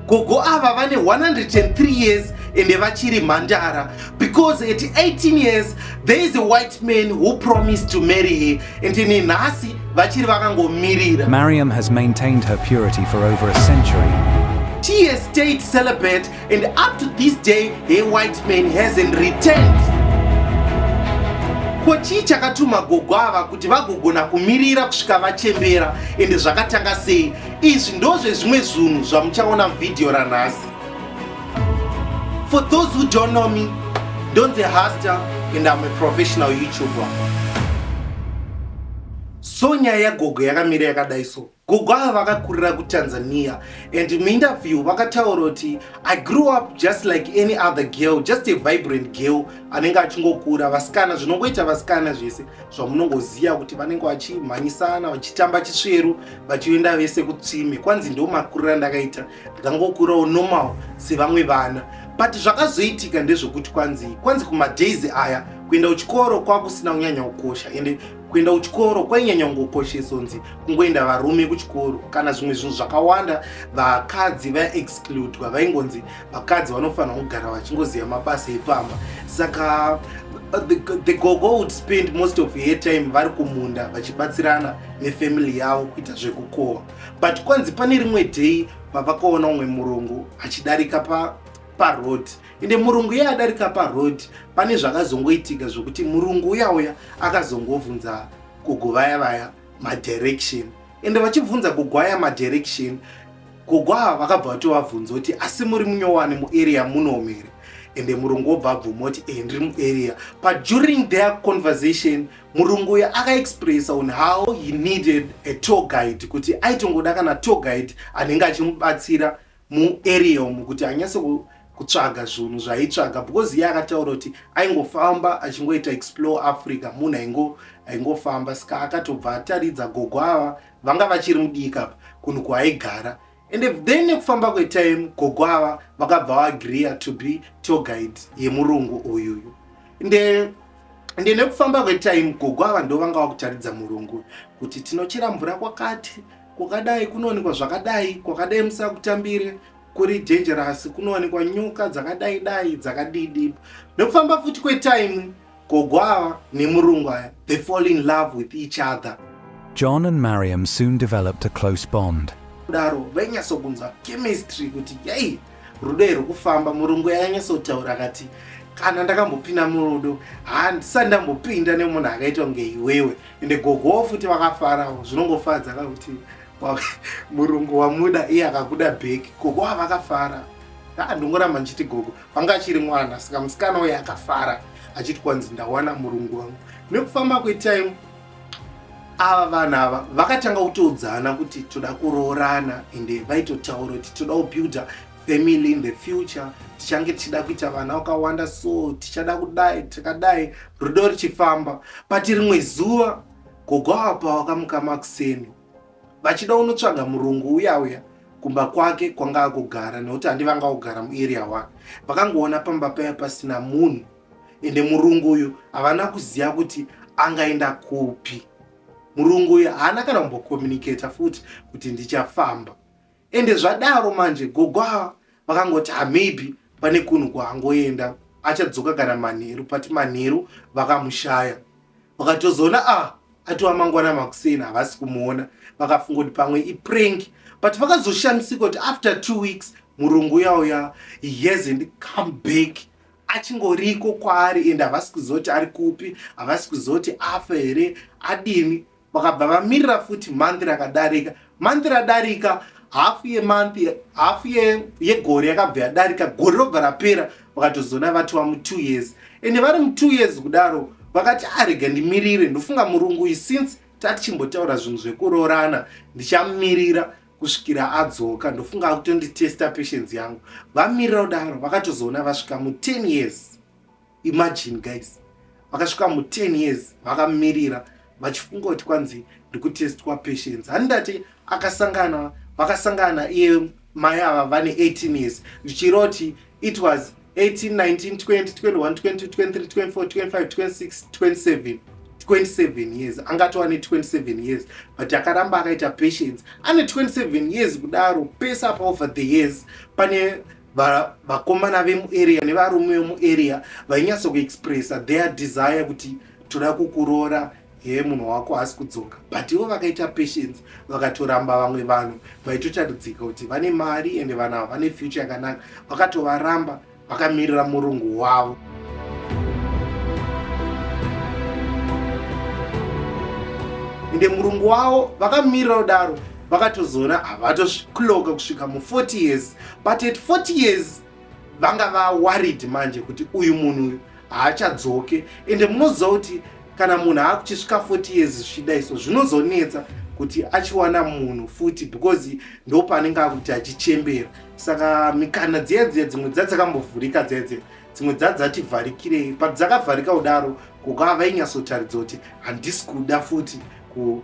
gogo ava vane 103 years ende vachiri mhandara because at 18 years there is a white man who promised to marry her and ine nhasi vachiri vakangomirira mariam has maintained her purity for over a century she has stayed celibate and up to this day her white man hasn't returned ko chii chakatuma gogo ava kuti vagogona kumirira kusvika vachembera ende zvakatanga sei Izvi ndozvezvimwe zvunhu zvamuchaona muvhidhiyo ranhasi. For those who don't know me, Donze Hasta and I'm a professional YouTuber. So nyaya yagogo yakamira yakadai so. Gogo ava vakakurira kuTanzania and muinterview vakataura kuti I grew up just like any other girl, just a vibrant girl anenge achingokura vasikana zvinongoita vasikana zvese zvamunongoziva kuti vanenge vachimhanyisana vachitamba chisveru vachienda vese kutsime kwanzi ndiwo makuriro andakaita ndikangokurawo normal sevamwe vana but zvakazoitika ndezvekuti kwanzi kwanzi kumadays aya kuenda kuchikoro kwakusina kunyanya kukosha ende kuenda kuchikoro kwainyanya kungokoshesonzi kungoenda varume kuchikoro kana zvimwe zvinhu zvakawanda vakadzi vaexcludwa vaingonzi vakadzi vanofanira kugara vachingoziva mabasa epamba saka uh, the, the gogo would spend most of her time vari kumunda vachibatsirana nefamily yavo kuita zvekukohwa but kwanzi pane rimwe day vavakaona umwe murungu achidarika pa paroad ende murungu iye adarika paroad pane zvakazongoitika zvekuti murungu uya uya akazongovhunza kugovaya vaya madirection ende vachibvunza kugwaya madirection Gogo ava vakabva vatovabvunza kuti asi muri munyowani muarea munomu here ende murungu obva abvuma kuti e ndiri muarea but during their conversation murungu uyo akaexpressa on how he needed a tour guide kuti aitongoda kana tour guide anenge achimubatsira muarea umu kuti anyase kutsvaga zvinhu zvaitsvaga because iye akataura kuti aingofamba achingoita explore africa munhu aingofamba ska akatobva ataridza gogo ava vanga vachiri mudii kapa kunhu kwaaigara and then nekufamba kwetime gogo ava vakabva vaagreea to be tour guide yemurungu uyuyu nde nde nekufamba kwetime gogo ava ndo vanga vakutaridza murungu kuti tinochera mvura kwakati kwakadai kunowanikwa zvakadai kwakadai musakutambire kuri dangerous kunowanikwa nyoka dzakadai dai dzakadidi nekufamba futi kwetime Gogo ava nemurungu aya they fall in love with each other. John and Mariam soon developed a close bond. Kudaro vainyatsokunzwa chemistry kuti yei rudo iri kufamba. Murungu yainyatsotaura akati kana ndakambopinda murudo handisati ndambopinda nemunhu akaitwa kunge iwewe ende gogowo futi vakafarawo zvinongofadza kakuti murungu wamuda iye akakuda bheki gogo wavakafara aa ndongoramba ndichiti gogo Anga achiri mwana saka musikana uye akafara achiti kwanzi ndawana murungu wangu. Nekufamba kwetime ava vana ava vakatanga kutoudzana kuti toda kuroorana ende vaitotaura kuti toda kubuilda family in the future tichange tichida kuita vana vakawanda so tichada kudai tikadai rudo richifamba but rimwe zuva gogo apa wakamuka makuseni vachida unotsvaga murungu uya uya kumba kwake kwanga akugara nekuti handi vanga kugara muarea wake vakangoona pamba paya pasina munhu ende murungu uyu havana kuziva kuti angaenda kupi murungu uyu haana kana kumbokomunicata futi kuti ndichafamba ende zvadaro manje gogo ava vakangoti ha maybe pane kunhu kwaangoenda achadzoka kana manheru but manheru vakamushaya vakatozoona a ah, atova mangwana makuseni havasi kumuona vakafunga kuti pamwe iprank but vakazoshamisika kuti after two weeks murungu yauya he hasn't come back achingoriko kwaari ende havasi kuzoti ari kupi havasi kuzoti afa here adini vakabva vamirira futi month rakadarika month radarika hafu yemonth hafu yegore yakabva yadarika gore robva rapera vakatozoona vatova mutwo years ende vari mutwo years kudaro vakati arega ah, ndimirire ndofunga murungu uyu since tatichimbotaura zvinhu zvekuroorana ndichamirira kusvikira adzoka ndofunga akutonditesta patience yangu vamirira kudaro vakatozoona vasvika mu10 years imagine guys vakasvika mu 10 years vakamirira vachifunga kuti kwanzi ndikutestwa patience handati akasangana vakasangana iye mai ava vane 18 years zvichiroti it was 18192021222324252627 27 years angatova ne 27 years but akaramba akaita patience ane 27 years kudaro pese apa over the years pane vakomana vemuarea nevarume vemuarea vainyatso kuexpressa their desire kuti toda kukuroora hee munhu wako haasi kudzoka but ivo vakaita patience vakatoramba vamwe vanhu vaitotaridzika kuti vane mari ende vanhu ava vane future yakanaka vakatovaramba vakamirira murungu wavo ende murungu wavo vakamirira kudaro vakatozoona havatosvikuloka kusvika mu40 years but at 40 years vanga vaworried manje kuti uyu munhu uyu haachadzoke ende munoziva kuti kana munhu aakuchisvika 40 years zvichida iso zvinozonetsa kuti achiwana munhu futi because ndopaanenge akuti achichembera saka mikana dziya dziya dzimwe dza dzakambovhurika dziya dziya dzimwe dza dzativharikirei but dzakavharika kudaro kukaa vainyatsotaridza kuti handisi kuda futi ku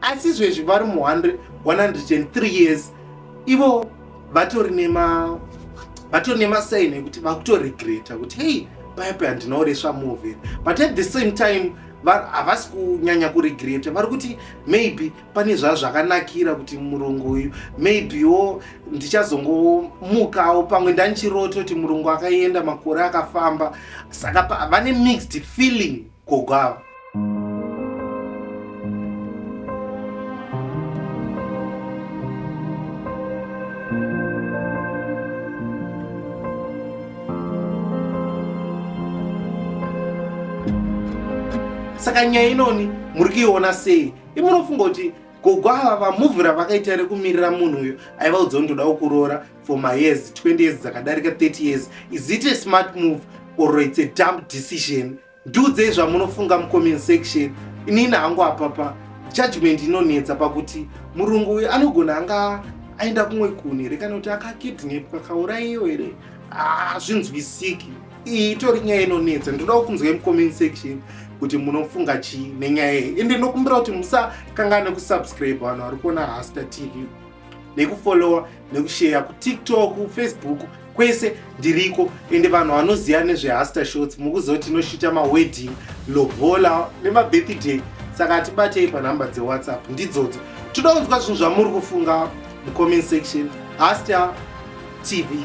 asi izvezvi vari mu 103 years ivo vatori nema vatori nemasaini ekuti vakutoregreta kuti hei paya paya ndinoresva move but at the same time havasi kunyanya kuregreta vari kuti maybe pane zvazvakanakira kuti murungu uyu maybewo ndichazongomukawo pamwe ndanichiroto kuti murungu akaenda makore akafamba saka vane mixed feeling gogo ava saka nyaya inoni muri kuiona sei imunofunga kuti gogo ava vamuvhu ravakaita rekumirira munhu uyo aiva udzawo ndoda kukuroora for my years 20 years dzakadarika 30 years is it a smart move or its a dump decision ndiudzei zvamunofunga mucomment section inini hangu apapa judgment inonetsa pakuti murungu uyu anogona anga aenda kumwe kune here kana kuti akakidnepwa kaurayiyo here hazvinzwisiki ah, iyi itori nyaya inonetsa ndinodawo kunzwa mucomment section kuti munofunga chii nenyaya iyi ende ndokumbira kuti musakangane kusubscribe vanhu vari kuona rasta tv nekufollowa nekusheya kutiktok facebook kwese ndiriko ende vanhu vanoziva nezvehaster shots mukuziva kuti tinoshita mawedding lobola nemabirthday saka tibatei panhamba dzewhatsapp ndidzodzo toda kunzwa zvinhu zvamuri kufunga mucomment section Hasta TV.